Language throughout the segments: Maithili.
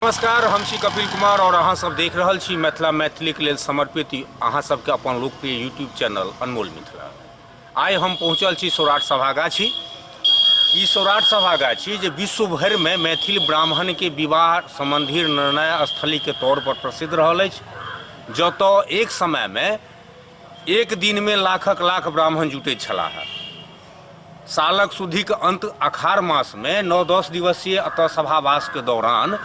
नमस्कार हम छी कपिल कुमार आओर अहाँसभ देख रहल छी मिथिला मैथिलीके लेल समर्पित अहाँसभके अपन लोकप्रिय यूट्यूब चैनल अनमोल मिथिला आइ हम पहुँचल छी सौराठ सभागाछी ई सौराठ सभागाछी जे विश्व भरिमे मैथिल ब्राह्मणके विवाह सम्बन्धी निर्णय स्थलीके तौरपर प्रसिद्ध रहल अछि जतय एक समयमे एक दिनमे लाखक लाख ब्राह्मण जुटैत छलाह सालक सुधीक अन्त अखाढ़ मासमे नओ दस दिवसीय अतऽ सभावासके दौरान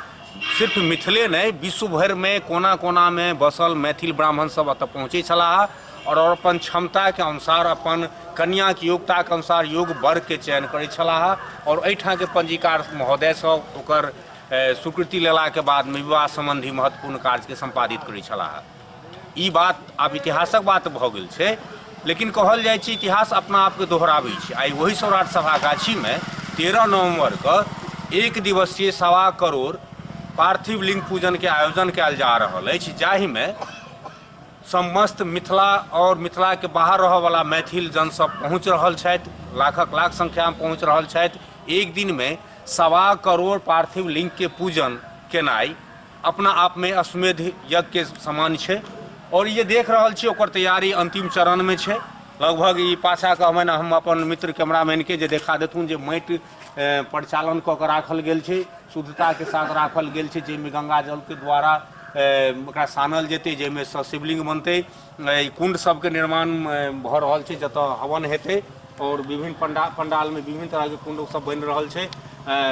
सिर्फ मिथिले नहि विश्व भरिमे कोना कोनामे बसल मैथिल ब्राह्मण सब अतऽ पहुँचै छलाह आओर अपन क्षमताके अनुसार अपन कन्याके योग्यताके अनुसार योग वर्गके चयन करै छलाह आओर एहिठामके पंजीकार महोदय सब ओकर स्वीकृति लेलाके बादमे विवाह सम्बन्धी महत्वपूर्ण कार्यके सम्पादित करै छलाह ई बात आब इतिहासक बात भऽ गेल छै लेकिन कहल जाइ छै इतिहास अपना आपके दोहराबै छै आइ ओहि सौराठ सभा गाछीमे तेरह नवम्बरके एक दिवसीय सवा करोड़ पार्थिव लिंग पूजनके आयोजन कयल जा रहल अछि जाहिमे समस्त मिथिला आओर मिथिलाके बाहर रहऽवला मैथिल जनसभ पहुँच रहल छथि लाखक लाख संख्यामे पहुँच रहल छथि एक दिनमे सवा करोड़ पार्थिव लिंगके पूजन केनाइ अपना आपमे अश्वमेध यज्ञके समान छै आओर ई जे देख रहल छियै ओकर तैयारी अन्तिम चरणमे छै लगभग ई पाछा कहबनि हम अपन मित्र कैमरामैनके जे देखा देथुन जे माटि परिचालन कऽ कऽ राखल गेल छै शुद्धताके साथ राखल गेल छै जाहिमे गङ्गाजलके द्वारा ओकरा सानल जेतै जाहिमेसँ शिवलिङ्ग बनतै एहि कुण्ड सभके निर्माण भऽ रहल छै जतऽ हवन हेतै आओर विभिन्न पण्डा पण्डालमे विभिन्न तरहके कुण्ड सब बनि रहल छै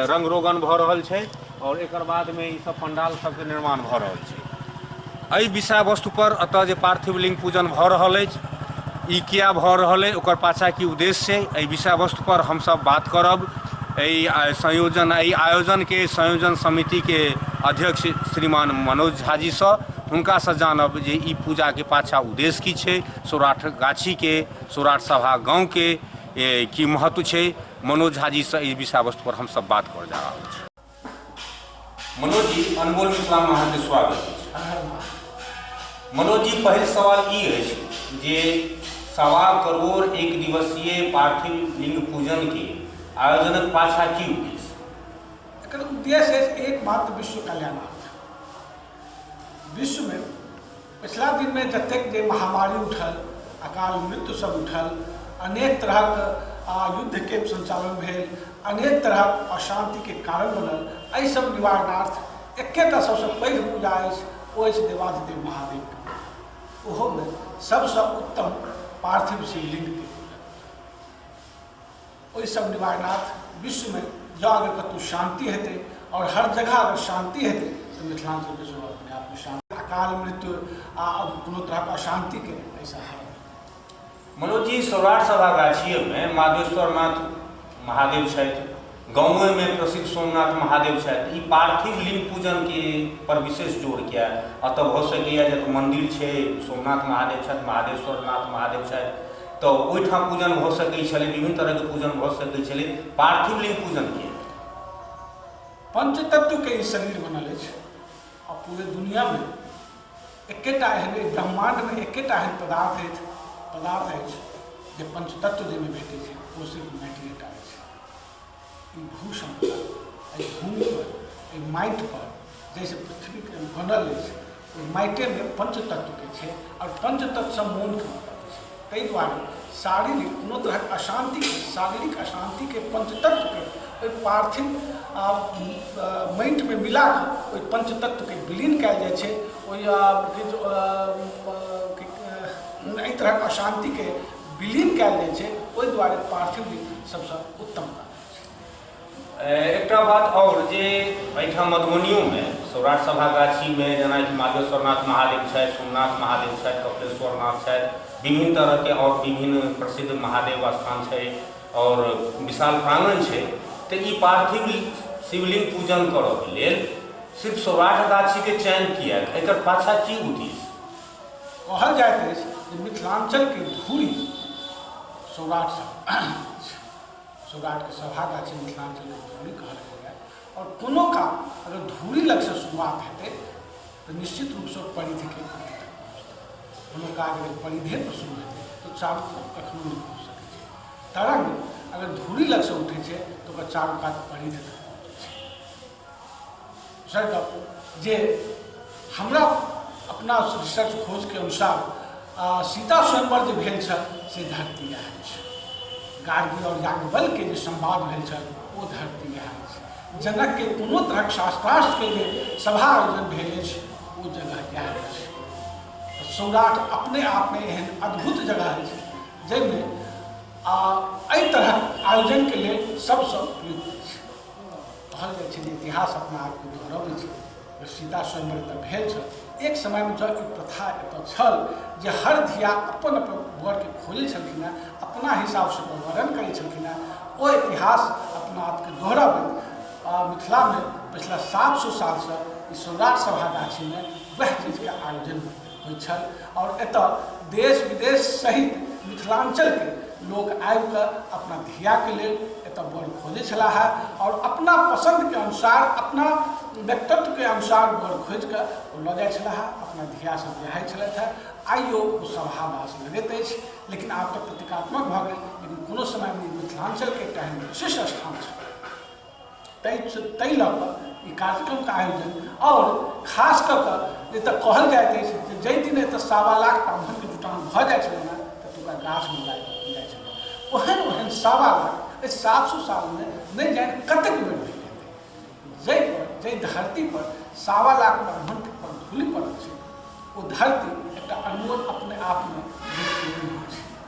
रङ्ग रोगन भऽ रहल छै आओर एकर बादमे ई सब पण्डाल सबके निर्माण भऽ रहल छै एहि विषय वस्तु पर एतऽ जे पार्थिव लिङ्ग पूजन भऽ रहल अछि ई किया भऽ रहल अछि ओकर पाछा की उद्देश्य छै एहि विषय वस्तु पर हमसब बात करब एहि संयोजन एहि आयोजनके संयोजन समितिके अध्यक्ष श्रीमान मनोज झाजीसँ हुनकासँ जानब जे ई पूजाके पाछाँ उद्देश्य की छै सौराठ गाछीके सौराठ सभा गाँवके की महत्व छै मनोज झा जीसँ एहि विषय वस्तु पर हमसभ बात कर जा रहल छी मनोज जी अनमोल मिथिला में अहाँके स्वागत अछि मनोज जी पहिल सवाल ई अछि जे सवा करोड़ एक दिवसीय पार्थिव लिंग पूजन के आयोजनक पाछा की उद्देश्य एकर उद्देश्य अछि एकमात्र विश्व कल्याणार्थ विश्वमे पछिला दिनमे जतेक जे महामारी उठल अकाल मृत्यु सब उठल अनेक तरहक आ युद्धके सञ्चालन भेल अनेक तरहक अशान्तिके कारण बनल एहि सब निवारणार्थ एकेटा सबसँ पैघ पूजा अछि ओ अछि देवाधिदेव महादेवके ओहोमे सबसँ उत्तम पार्थिव शिवलिङ्गके ओहि सब निवारनाथ विश्व में जँ अगर कतहु शांति हेतै और हर जगह अगर शांति हेतै तऽ मिथिलांचल के सेहो अपने आप में शांति अकाल मृत्यु आ कोनो तरह के अशांति के ऐसा है मनोज जी सौराठ सभा गाछिए में माधेश्वरनाथ महादेव छथि गाँवे में प्रसिद्ध सोमनाथ महादेव छथि ई पार्थिव लिंग पूजन के पर विशेष जोर किया अतः भऽ सकैया जे मंदिर छै सोमनाथ महादेव छथि महादेश्वरनाथ महादेव छथि तऽ ओहिठाम पूजन भऽ सकैत छलै विभिन्न तरहके पूजन भऽ सकैत छलै पार्थिव लिंग पूजन किए पंचतत्वके ई शरीर बनल अछि आ पूरे दुनियामे एकेटा एहन ब्रह्मांडमे एकेटा एहन पदार्थ अछि पदार्थ अछि जे पंचतत्व जाहिमे भेटै छै ओ सिर्फ मैटरेटा अछि ई भूषण पर एहि भूमि पर एहि माटि पर जैसे पृथ्वी के बनल अछि ओहि माटे में पंच तत्व के छै और पंच तत्व से मोन के उत्पन्न छै ताहि दुआरे शारीरिक कोनो तरह अशांति के शारीरिक अशांति के पंच तत्व के ओहि पार्थिव आ माटि में मिला के ओहि पंच तत्व के विलीन कयल जाइ छै ओहि आ, कि जो, आ, आ, कि, आ, एहि तरहक अशांति के विलीन कयल जाइ छै ओहि दुआरे पार्थिव लिंग सबसँ उत्तम एकटा बात आओर जे एहिठाम मधुबनियोमे सौराठ सभागाछीमे जेना माधेश्वरनाथ महादेव छथि सोमनाथ महादेव छथि कपिलेश्वरनाथ छथि विभिन्न तरहके आओर विभिन्न प्रसिद्ध महादेव स्थान छै आओर विशाल प्राङ्गण छै तऽ ई पार्थिव शिवलिंग पूजन करऽके लेल सिर्फ सौराठ गाछीके चयन किएक एकर पाछा की उद्देश्य कहल जाइत अछि जे मिथिलाञ्चलके धूरी सौराठ सौराठके सभा गाछी मिथिलाञ्चलके धूरी कहल गेलैए आओर कोनो काम अगर धूरी लगसँ शुरुआत हेतै तऽ निश्चित रूपसँ परिधिके कोनो काज अगर परिधेपर शुरू हेतै तऽ चारू तरफ कखनो नहि पहुँच सकै छै तरङ्ग अगर धूरी लगसँ उठै छै तऽ ओकर चारू कात परिधि तक पहुँचै छै जे हमरा अपना रिसर्च खोजके अनुसार सीता स्वयंवर जे भेल छल से धरती इएह अछि गार्गी आओर याज्ञवल्के जे संवाद भेल छल ओ धरती इएह अछि जनकके कोनो तरहक शास्त्रार्थके जे सभा आयोजन भेल अछि ओ जगह इएह अछि सौराठ अपने आपमे एहन अद्भुत जगह अछि जाहिमे आ एहि तरहक आयोजनके लेल सबसँ उपयुक्त कहल जाइ छै जे इतिहास अपना आपके दोहरबै छै जे सीता स्वयंवर तऽ भेल छल एक समयमे जब ई प्रथा एतऽ छल जे हर धिया अपन अपन वरके खोजै छलखिन हेँ अपना हिसाबसँ ओकर वर्णन करै छलखिन हेँ ओ इतिहास अपना आपके दोहरबैत आ मिथिलामे पछिला सात सए सालसँ ई सम्राट सभा गाछीमे वएह चीजके आयोजन होइत छल आओर एतऽ देश विदेश सहित मिथिलाञ्चलके लोक आबिकऽ अपना धियाके लेल एतऽ बर खोजै छलाह आओर अपना पसन्दके अनुसार अपना व्यक्तित्वके अनुसार बर खोजिकऽ ओ लऽ जाइ छलाह अपना धियासँ बियाहै छलथि हँ आइयो ओ सभावास लगैत अछि लेकिन आब तऽ प्रतीकात्मक भऽ गेल लेकिन कोनो समयमे ई मिथिलाञ्चलके एकटा एहन विशिष्ट स्थान छल ताहि लऽ कऽ ई कार्यक्रमके आयोजन आओर खास कऽ कऽ जे तऽ कहल जाइत अछि जे जाहि दिन एतऽ सावा लाख ब्राह्मणके जुटान भऽ जाइ छलै ने ततुका गाछमे लागि जाइ छलै ओहन ओहन सावा लाख एहि सात सौ सालमे नहि जानि कतेक बेर भेल जाहि पर जाहि धरती पर सावा लाख ब्राह्मण पर धूलि पड़ल छै ओ धरती एकटा अनमोल अपने आपमे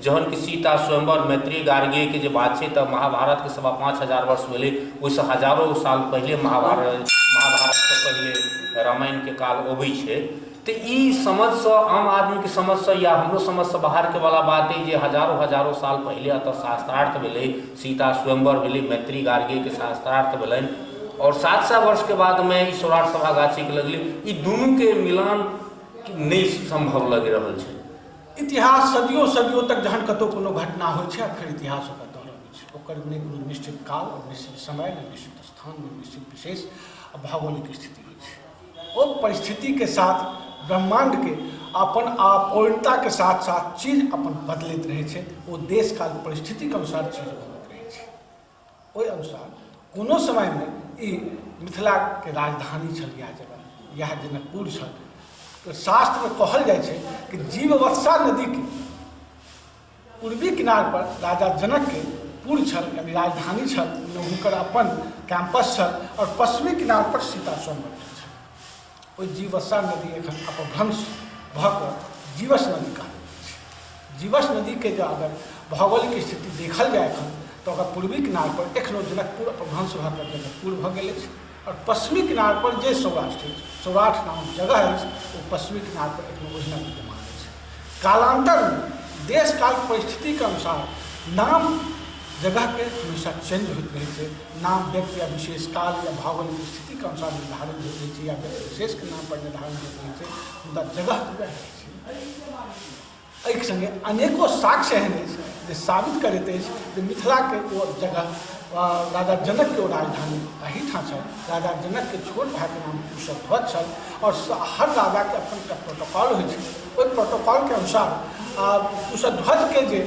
जहन कि सीता स्वयंवर मैत्री गार्गीयके जे बात छै तऽ महाभारतके सवा पाँच हजार वर्ष भेलै ओहिसँ हजारो साल पहिले महाभारत महाभारतसँ पहिले रामायणके काल अबै छै तऽ ई समझसँ आम आदमीके समझसँ या हमरो समझसँ बाहरके वाला बात अइ जे हजारो हजारो साल पहिले एतऽ शास्त्रार्थ भेलै सीता स्वयंवर भेलै मैत्री गार्गेके शास्त्रार्थ भेलनि आओर सात सए वर्षके बादमे ई सौराठ सभा गाछीके लगलै ई दुनूके मिलान नहि सम्भव लागि रहल छै इतिहास सदियों सदियों तक जहन कतौ कोनो घटना होइ छै फेर इतिहास ओकरा दोहराबै छै ओकर नहि कोनो निश्चित काल निश्चित समय नहि निश्चित स्थान नहि निश्चित विशेष आ भौगोलिक स्थिति होइ छै ओ परिस्थितिके साथ ब्रह्माण्डके अपन अपूर्णताके साथ साथ चीज अपन बदलैत रहै छै ओ देश काल परिस्थितिके अनुसार चीज बदलैत रहै छै ओहि अनुसार कोनो समयमे ई मिथिलाके राजधानी छल इएह जगह इएह जनकपुर छल तऽ शास्त्रमे कहल जाइ छै कि जीववत्सा नदीके पूर्वी किनारपर राजा जनकके पुर छल यानी राजधानी छल हुनकर अपन कैंपस छल आओर पश्चिमी किनारपर सीता स्वयं ओहि जीवसा नदी एखन अपभ्रंश भऽ कऽ जीवस नदी कहल छै जीवस नदीके जँ अगर भौगोलिक स्थिति देखल जाय एखन तऽ ओकर पूर्वी किनारपर एखनो जनकपुर अपभ्रंश भऽ कऽ जनकपुर भऽ गेल अछि आओर पश्चिमी किनारपर जे सौराठ अछि सौराठ नामक जगह अछि ओ पश्चिमी किनारपर एखनो ओहिना विद्यमान अछि कालान्तरमे देश काल परिस्थितिके अनुसार नाम जगहके हमेशा चेन्ज होइत रहै छै नाम व्यक्ति या विशेष काल या भावक स्थितिके अनुसार निर्धारित होइत रहै छै या व्यक्ति विशेषके नाम पर निर्धारित होइत रहै छै मुदा जगह तऽ वएह रहै छै एहिके सङ्गे अनेको साक्ष्य एहन अछि जे साबित करैत अछि जे मिथिलाके ओ जगह राजा जनकके ओ राजधानी एहिठाम छल राजा जनक के छोट भाई के नाम कुशध्वज छल और स- हर राजा के अपन एकटा प्रोटोकॉल होइ छै ओहि प्रोटोकॉल के अनुसार आ, कुशध्वज के जे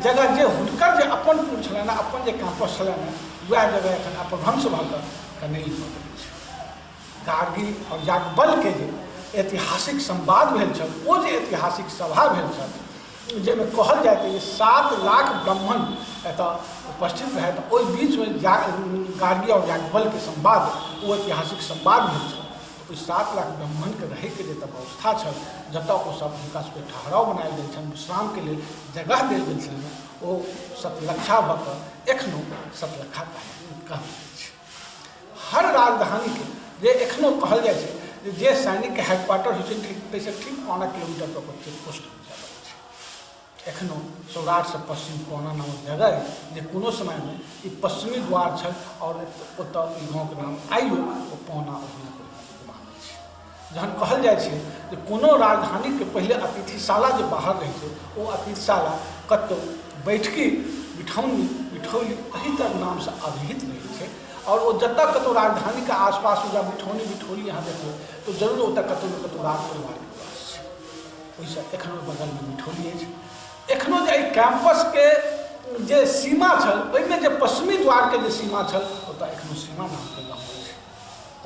जगह जे हुनकर जे अपन पुर छलनि हेँ, अपन जे कैंपस छलनि हेँ, वएह जगह एखन अपभ्रंश भऽ कऽ कनैल भऽ गेल छै कारगिल और याज्ञवल्क्य के जे ऐतिहासिक संवाद भेल छल ओ जे ऐतिहासिक सभा भेल छल जाहिमे कहल जाइत अछि जे सात लाख ब्राह्मण एतऽ उपस्थित रहै तऽ ओहि बीचमे जा गार्गी आओर याज्ञवलके संवाद ओ ऐतिहासिक संवाद भेल छल ओहि सात लाख ब्राह्मणके रहैके जतऽ व्यवस्था छल जतऽ ओ सब हुनका सबके ठहराव बनायल गेल छनि विश्रामके लेल जगह देल गेल छनि ओ सतलक्षा भऽ कऽ एखनो सतलक्षा कहल अछि हर राजधानीके जे एखनो कहल जाइ छै जे सैनिकके हेडक्वार्टर होइ छै ठीक ताहिसँ ठीक पाँच किलोमीटर पर चेकपोस्ट एखनो सौराठसँ पश्चिम कोना नामक जगह अइ जे कोनो समयमे ई पश्चिमी द्वार छल आओर ओतऽ ई गाँवके नाम आइयो ओ पौना ओहिना मानै छै जहन कहल जाइ छै जे कोनो राजधानीके पहिले अतिथिशाला जे बाहर रहै छै ओ अतिथिशाला कतहु बैठकी बिठौनी बिठौली एहि तर नामसँ अभिहित रहै छै आओर ओ जतऽ कतहु राजधानीके आसपास या बिठौनी बिठौली अहाँ देखबै तऽ जरूर ओतऽ कतहु ने कतहु राज परिवारके ओहिसँ एखनो बगलमे मिठौली अछि एखनो जे एहि कैम्पसके जे सीमा छल ओहिमे जे पश्चिमी द्वारके जे सीमा छल ओतऽ एखनो सीमा नामके गाँव अछि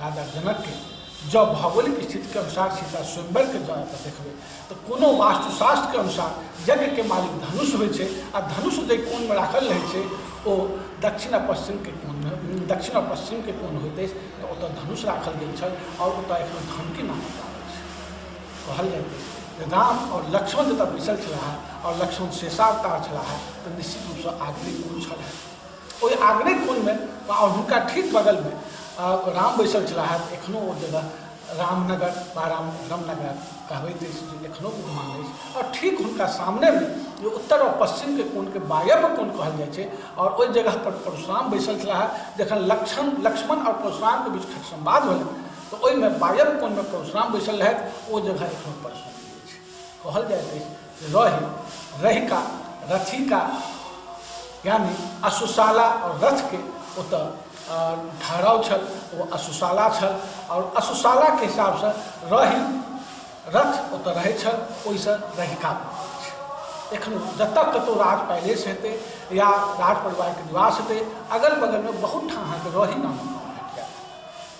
राजा जनकके जँ भौगोलिक स्थितिके अनुसार सीता स्वयंवरके जँ एतऽ देखबै तऽ कोनो वास्तुशास्त्रके अनुसार यज्ञके मालिक धनुष होइ छै आ धनुष जे कोनमे राखल रहै छै ओ दक्षिण आ पश्चिमके कोनमे दक्षिण आ पश्चिमके कोन होइत अछि तऽ ओतऽ धनुष राखल गेल छल आओर ओतऽ एखनो धमकी नामक गाँव अछि कहलियनि जे राम आओर लक्ष्मण जतऽ बैसल छलाह आओर लक्ष्मण शेषावतार छलाह तऽ निश्चित रूपसँ आग्नेय कोन छल ओहि आग्नेय कोनमे आओर हुनका ठीक बगलमे राम बैसल छलाह एखनो ओ जगह रामनगर वा राम रामनगर कहबैत अछि जे एखनो विद्यमान अछि आओर ठीक हुनका सामनेमे जे उत्तर आओर पश्चिमके कोनके वायव्य कोन कहल जाइ छै आओर ओहि जगहपर परशुराम बैसल छलाह जखन लक्ष्मण लक्ष्मण आओर परशुरामके बीच खट संवाद भेलै तऽ ओहिमे बाजल कोनमे परशुराम बैसल रहथि ओ जगह एखनो परशुराम अछि कहल जाइत अछि जे रहि रहिका रथिका यानी असुशाला आओर रथके ओतऽ ठहराव छल ओ असुशाला छल आओर असुशालाके हिसाबसँ रहि रथ ओतऽ रहै छल ओहिसँ रहिका एखन जतऽ कतहु राज पैलेस हेतै या राज परिवारके निवास हेतै अगल बगलमे बहुत ठाम अहाँके रही नामक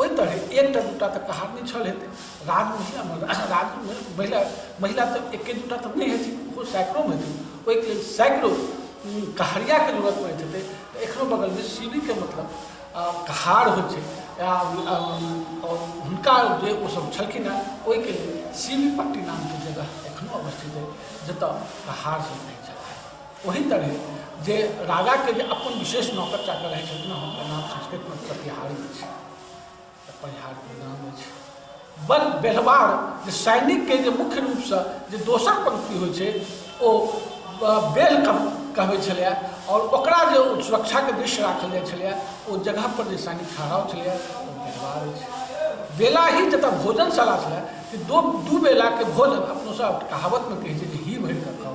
ओहि तरहे एकटा दूटा तऽ कहार नहि छल हेतै राज महिला राज महिला महिला तऽ एके दूटा तऽ नहि हेथिन ओहो सैकड़ो हेथिन ओहिके लेल सैकड़ो कहारियाके जरूरत पड़ैत हेतै तऽ एखनो बगलमे सीढ़ीके मतलब कहार होइ छै हुनका जे ओसभ छलखिन हेँ ओहिके लेल सीढ़ी पट्टी नामके जगह एखनो अवस्थित अछि जतय कहारसभ रहैत छलाह ओहि तरह जे राजाके जे अपन विशेष नौकर चाकर रहै छथिन हुनकर नाम संस्कृतमे प्रतिहारी अछि परिहारके नाम अछि बल बेलवार जे सैनिकके जे मुख्य रूपसँ जे दोसर पंक्ति होइ छै ओ बेल कहबै छलैए आओर ओकरा जे सुरक्षाके दृश्य राखल जाइ छलैए ओ जगहपर जे सैनिक ठहराव छलैए ओ बेलवार अछि बेला ही जतऽ भोजनशाला छलै कि दो दू बेलाके भोजन अपनोसभ कहावतमे कहै छै जे ही भरि कऽ खाउ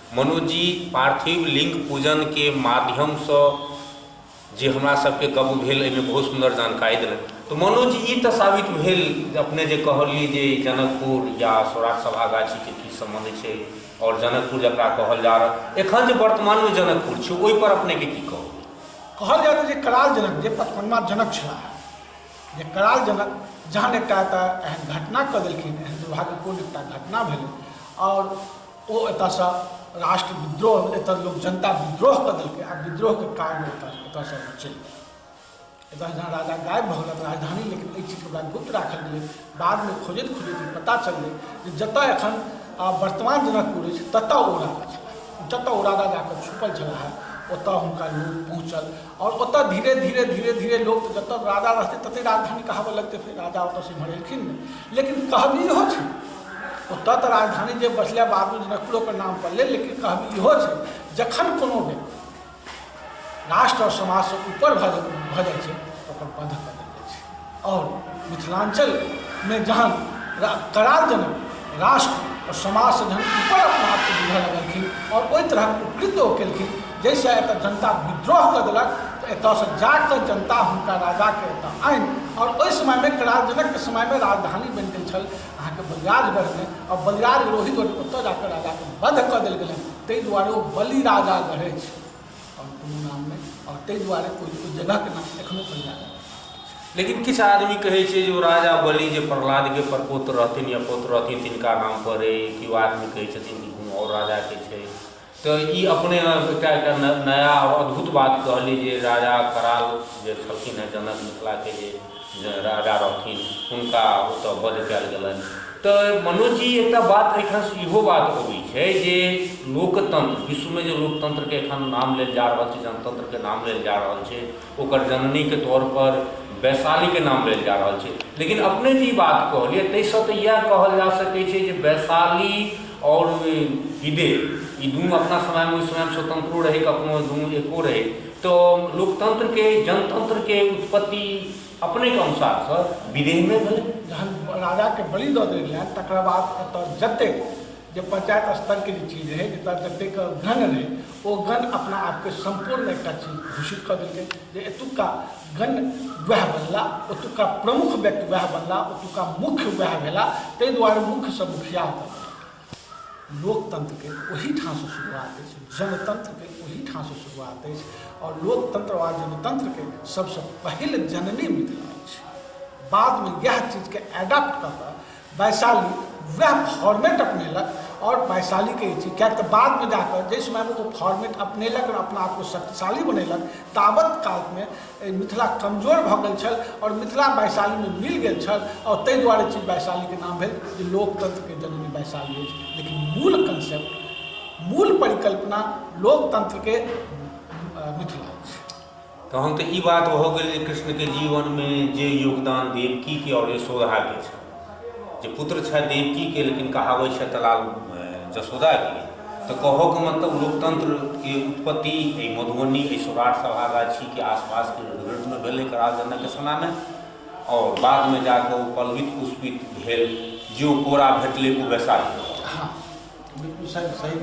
मनोज जी, पार्थिव लिंग पूजन के माध्यम स जे हमरा सब के गप भेल एहि मे बहुत सुंदर जानकारी देलनि। त मनोज जी ई त साबित भेल जे अपने जे कहलिय जे ई जनकपुर या सौराठ सभागाछी के की संबंध छै और जनकपुर जकरा कहल जा रहल एखन जे वर्तमान मे जनकपुर छै ओहि पर अपने के की कहब। कहल जाय त जे कराल जनक जे पचपनमा जनक छलाह जे कराल जनक जहन एकटा एतय एहन घटना क देलखिन एहन दुर्भाग्यपूर्ण एकटा घटना भेलनि और ओ एतऽसँ राष्ट्र विद्रोह एतऽ लोक जनता विद्रोह कऽ देलकै आ विद्रोहके कारण एतऽ एतऽसँ ओ चलि गेल एतऽ जहाँ राजा गायब भऽ गेलक राजधानी लेकिन एहि चीजके ओकरा गुप्त राखल गेलै बादमे खोजैत खोजैत ई पता चललै जे जतऽ एखन आ, वर्तमान जनकपुर अछि ततऽ ओ राजा छलाह जतऽ ओ राजा जाकऽ छुपल छलाह ओतऽ हुनका लोक पहुँचल आओर ओतऽ धीरे धीरे धीरे धीरे लोक जतऽ राजा रहतै ततहि राजधानी कहाबऽ लगतै फेर राजा ओतऽसँ एम्हर एलखिन नहि लेकिन कहबी इहो छै ओतऽ तऽ राजधानी जे बसले बाबू जनकपुरोके नाम पड़लै लेकिन कहबी इहो छै जखन कोनो व्यक्ति राष्ट्र आओर समाजसँ ऊपर भऽ भऽ जाइ छै ओकर बंध कऽ देल जाइ छै आओर मिथिलाञ्चलमे जहन करार जनक राष्ट्र आओर समाजसँ जहन ऊपर अपना आपके बुझऽ लगलखिन आओर ओहि तरहक उपकृत ओ केलखिन जैसे एतऽ जनता विद्रोह कऽ देलक तऽ एतऽसँ जाकऽ जनता हुनका राजाके एतऽ आनि आओर ओहि समयमे कराल जनकके समयमे राजधानी बनि गेल छल अहाँके बलिराजगढ़मे आओर बलिराज रोहित ओतऽ जाकऽ राजाके वध कऽ देल गेलनि ताहि दुआरे ओ बलि राजा गढ़ै छै आओर कोनो नाम नहि आओर ताहि दुआरे ओहि ओहि जगहके नाम एखनो बलिराजा लेकिन किछु आदमी कहै छै जे ओ राजा बलि जे प्रहलादके परपोत्र रहथिन या पोत्र रहथिन तिनका नाम पर अइ केओ आदमी कहै छथिन कि कोनो आओर राजाके छै तँ ई अपने मे एकटा एकटा न नया आ अद्भुत बात कहली जे राजा कराल जे छलखिन हेँ जनक मिथिला के जे ज राजा रहथिन हुनका ओतऽ वध कयल गेलनि। तँ मनोज जी एकटा बात एहिठाम सँ इहो बात अबै छै जे लोकतंत्र विश्व मे जे लोकतंत्र के एखन नाम लेल जा रहल छै जनतंत्र के नाम लेल जा रहल छै ओकर जननी के तौर पर वैशाली के नाम लेल जा रहल छै लेकिन अपने जे ई बात कहलियै ताहि सऽ तऽ इएह कहल जा सकै छै जे वैशाली आओर विदेह ई दुनू अपना समय मे ओहि समय मे स्वतंत्रो रहै कखनो दुनू एको रहै तऽ लोकतंत्र के जनतंत्र के उत्पत्ति अपने के अनुसार सऽ विदेह मे भेलै जहन राजा के बलि दऽ देल गेलनि तकरा बाद एतऽ जतेक जे पंचायत स्तर के जे चीज रहै जतय जतेक गण रहै ओ गण अपना आपके सम्पूर्ण एकटा चीज घोषित कऽ देलकै जे एतुका गण वएह बनला ओतुका प्रमुख व्यक्ति वएह बनला ओतुका मुख्य वएह भेला ताहि दुआरे मुख्यसँ मुखिया ओतय बनल लोकतंत्रके ओहीठामसँ शुरुआत अछि जनतंत्रके ओहीठामसँ शुरुआत अछि आओर लोकतंत्र वा जनतंत्रके सभसँ पहिल जननी मिथिला अछि बादमे इएह चीजके एडाप्ट कऽ कऽ वैशाली वएह फॉर्मेट अपनेलक और वैशाली के चीज क्या तो बाद में जाकर जिस समय वो फॉर्मेट अपनेलक और अपना आपको शक्तिशाली बनेलक तावत काल में मिथिला कमजोर भ गल छल और मिथिला वैशाली में मिल गल छल और तय द्वारे चीज वैशाली के नाम भेल जे लोकतंत्र के जननी वैशाली अछि लेकिन मूल कंसेप्ट मूल परिकल्पना लोकतंत्र के मिथिला तहन तऽ ई बात भऽ गेल जे कृष्णके जीवनमे जे योगदान देवकीके आओर यशोदाके छै जे पुत्र छथि देवकीके लेकिन कहाबै छथि तलाल जसोदाके तऽ कहऽके मतलब लोकतन्त्रके उत्पत्ति एहि मधुबनी एहि सौराठ सभागाछीके आसपासके नृत्यमे भेलै राजनके समयमे आओर बादमे जाकऽ ओ पल्वित पुष्पित भेल जे ओ कोरा भेटलै ओ वैशाली हँ बिलकुल सही सही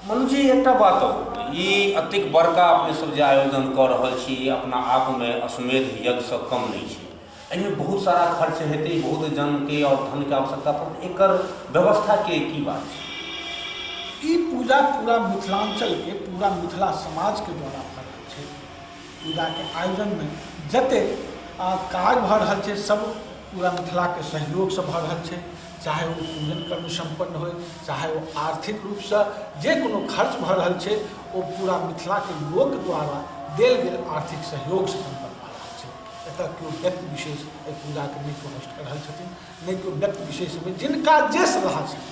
मनुजी एकटा बात ई एतेक बड़का अपने सब जे आयोजन कऽ रहल छी अपना आपमे अश्वमेध यज्ञसँ कम नहि छै एहिमे बहुत सारा खर्च हेतै बहुत जनके आओर धनके आवश्यकता पड़तै एकर व्यवस्थाके की बात छै ई पूजा पूरा मिथिलाञ्चलके पूरा मिथिला समाजके द्वारा भऽ रहल छै पूजाके आयोजनमे जतेक काज भऽ रहल छै सब पूरा मिथिलाके सहयोगसँ भऽ रहल छै चाहे ओ पूजन कर्म सम्पन्न होय चाहे ओ आर्थिक रूपसँ जे कोनो खर्च भऽ रहल छै ओ पूरा मिथिलाके लोक द्वारा देल गेल आर्थिक सहयोगसँ सम्पन्न भऽ रहल छै एतऽ केओ व्यक्ति विशेष एहि पूजाके नहि प्रविष्ट कऽ रहल छथिन नहि केओ व्यक्ति विशेष जिनका जे श्रद्धा छै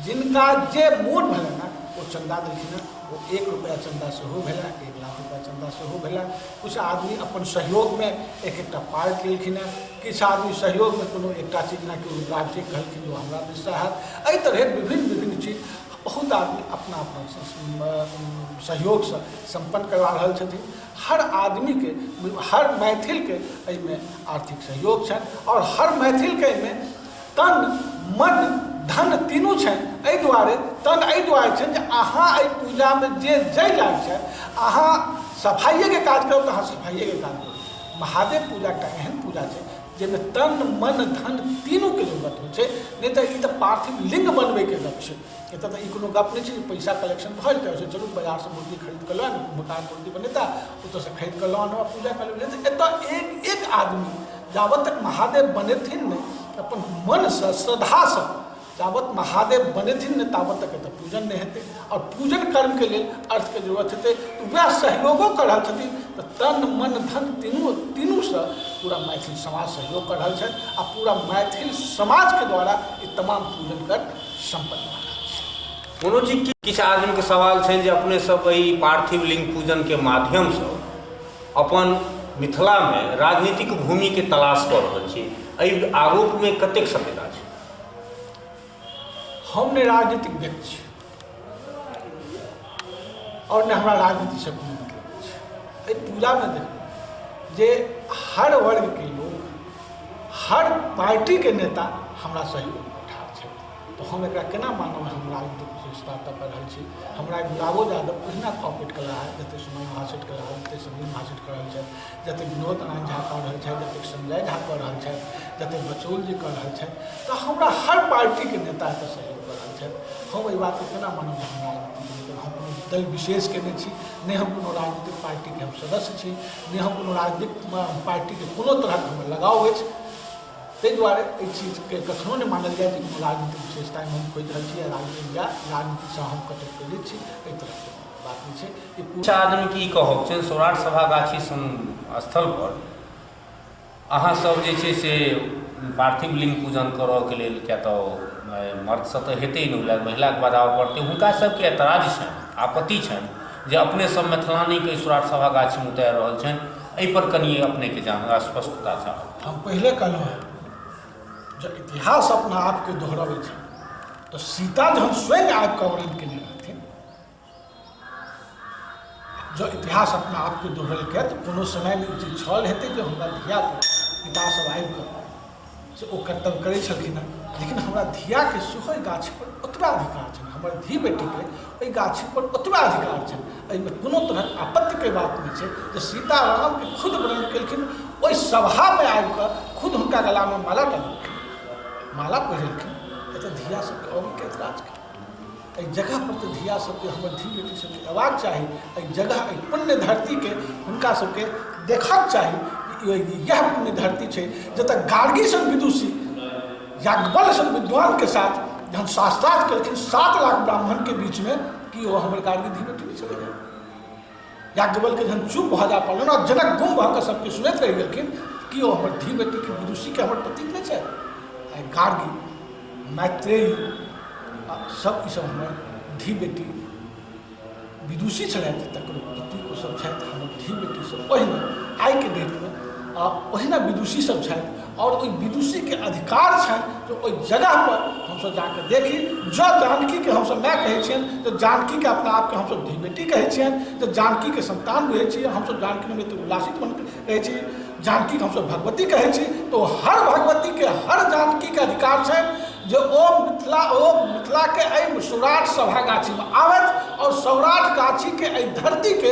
जिनका जे मोन भेलनि हेँ ओ चन्दा देलखिन हेँ ओ एक रुपैआ चन्दा सेहो भेलै एक लाख रुपैआ चन्दा सेहो भेलै किछु आदमी अपन सहयोगमे एक एकटा पार्ट लेलखिन हेँ किछु आदमी सहयोगमे कोनो एकटा चीज जेनाकि उद्घाट जे कहलखिन ओ हमरा दिशा हैत एहि तरहे विभिन्न विभिन्न चीज बहुत आदमी अपना अपना सहयोगसँ सम्पन्न करवा रहल छथिन हर आदमीके हर मैथिलके एहिमे आर्थिक सहयोग छनि आओर हर मैथिलके एहिमे तन मन धन तीनू छनि एहि दुआरे तन एहि दुआरे छनि जे अहाँ एहि पूजामे जे जाहि लायक छथि अहाँ सफाइएके काज करब तऽ अहाँ सफाइएके काज करब महादेव पूजा एकटा एहन पूजा छै जाहिमे तन मन धन तीनूके जरूरत होइ छै नहि तऽ ई तऽ पार्थिव लिङ्ग बनबैके गप छै एतऽ तऽ ई कोनो गप नहि छै जे पैसा कलेक्शन भऽ जेतै ओहिसँ चलू बाजारसँ मूर्ति खरीद कऽ लऽ आनू मकान मूर्ति बनेता ओतऽसँ खरीद कऽ लऽ आनू आ पूजा कऽ लेबै तऽ एतऽ एक एक आदमी जाबत तक महादेव बनेथिन नहि तऽ अपन मनसँ श्रद्धासँ जाबत महादेव बनेथिन ने ताबत तक एतऽ पूजन नहि हेतै आओर पूजन कर्मके लेल अर्थके जरूरत हेतै तऽ वएह सहयोगो कऽ रहल छथिन तऽ तन मन धन तीनू तीनूसँ पूरा मैथिल समाज सहयोग कऽ रहल छथि आ पूरा मैथिल समाजके द्वारा ई तमाम पूजन कर्म सम्पन्न भऽ रहल छै कोनो जी की किछु आदमीके सवाल छनि जे अपने सब एहि पार्थिव लिंग पूजनके माध्यमसँ अपन मिथिलामे राजनीतिक भूमिके तलाश कऽ रहल छी एहि आरोपमे कतेक सत्यता छै हम नहि राजनीतिक व्यक्ति छी आओर नहि हमरा राजनीतिसँ कोनो मतलब छै एहि पूजामे देखू जे हर वर्गके लोक हर पार्टीके नेता हमरा सहयोग ठाढ़ छथि तऽ हम एकरा केना मानब हम राजनीतिक विशेषता तऽ कऽ रहल छी हमरा गुलाबो यादव ओहिना कॉपरेट कऽ रहल जतेक सुमन महासेठ कऽ रहल जतेक सुनील महासेठ कऽ रहल छथि जतेक विनोद आनन्द झा कऽ रहल छथि जतेक संजय झा कऽ रहल छथि जतेक बचौल जी कऽ रहल छथि तऽ हमरा हर पार्टीके नेता एतऽ सहयोग कऽ रहल छथि हम एहि बातके केना मानब जे हम राजनीति नहि केलहुँ हम कोनो दल विशेषके नहि छी नहि हम कोनो राजनीतिक पार्टीके हम सदस्य छी नहि हम कोनो राजनीतिक पार्टीके कोनो तरहक हमर लगाव अछि ताहि दुआरे एहि चीजके कखनो नहि मानल जाय जे कोनो राजनीतिक विशेषतामे हम खोजि रहल छी या राजनीतिक या राजनीतिसँ हम कतहु प्रेरित छी एहि तरहके कुछ आदमी की कहब से सौराठ सभा गाछी स्थल पर अहाँ सब जे छै से पार्थिव लिंग पूजन करऽ के लेल क्या तो मर्द से तो हेतै नहि लग महिला के बढ़ावा पड़तै हुनका सब के एतराज छनि आपत्ति छनि जे अपने सब मैथिलानी के सौराठ सभा गाछी में उतार रहल छनि एहि पर कनि अपने के जान स्पष्टता चाहब हम पहले कहलहुँ हैं जब इतिहास अपना आपके दोहराबे तो सीता जहन स्वयं आबि कऽ वर्णन केने जँ इतिहास अपना आपके दोहरेलकै तऽ कोनो समयमे ई चीज छल हेतै जे हमरा धिया पितासभ आबि कऽ से ओ कर्तव्य करै छलखिन हेँ लेकिन हमरा धियाके सेहो एहि गाछीपर ओतबा अधिकार छनि हमर धी बेटीके एहि गाछीपर ओतबा अधिकार छनि एहिमे कोनो तरहक आपत्तिके बात नहि छै जे सीतारामके खुद वर्णन केलखिन ओहि सभामे आबि कऽ खुद हुनका गलामे माला डाललखिन माला पहिरलखिन एतऽ धिया सभके अबैके एतराज एहि जगह पर तऽ धिया सबके हमर धी बेटी सबके अयबाक चाही एहि जगह एहि पुण्य धरतीके हुनका सबके देखक चाही यह पुण्य धरती छै जतऽ गार्गी सन विदुषी याज्ञवल सन विद्वानके साथ जहन शास्त्रार्थ केलखिन सात लाख ब्राह्मणके बीचमे कि ओ हमर गार्गी धी बेटी छलै याज्ञवल्के जहन चुप भऽ जा पड़ल आ जनक गुम भऽ कऽ सभके सुनैत रहि गेलखिन कि ओ हमर धी बेटीके विदुषीके हमर प्रतीक नहि छै आइ गार्गी मैत्रेय सभ ईसभ हमर धी बेटी विदुषी छलथि तकर प्रतीक ओसभ छथि हमर धी बेटीसभ ओहिना आइके डेटमे आ ओहिना विदुषीसभ छथि आओर ओहि विदुषीके अधिकार छनि जे ओहि जगहपर हमसभ जा कऽ देखी जँ जानकीके हमसभ माय कहै छियनि तऽ जानकीके अपना आपके हमसभ धी बेटी कहै छियनि तऽ जानकीके सन्तान बुझै छी हमसभ जानकी निमित्त उल्लासित मन कहै छी जानकीके हमसभ भगवती कहै छी तऽ ओ हर भगवतीके हर जानकीके अधिकार छनि जे ओ मिथिला ओ मिथिलाके एहि सौराठ सभा गाछीमे आबथि आओर सौराठ गाछीके एहि धरतीके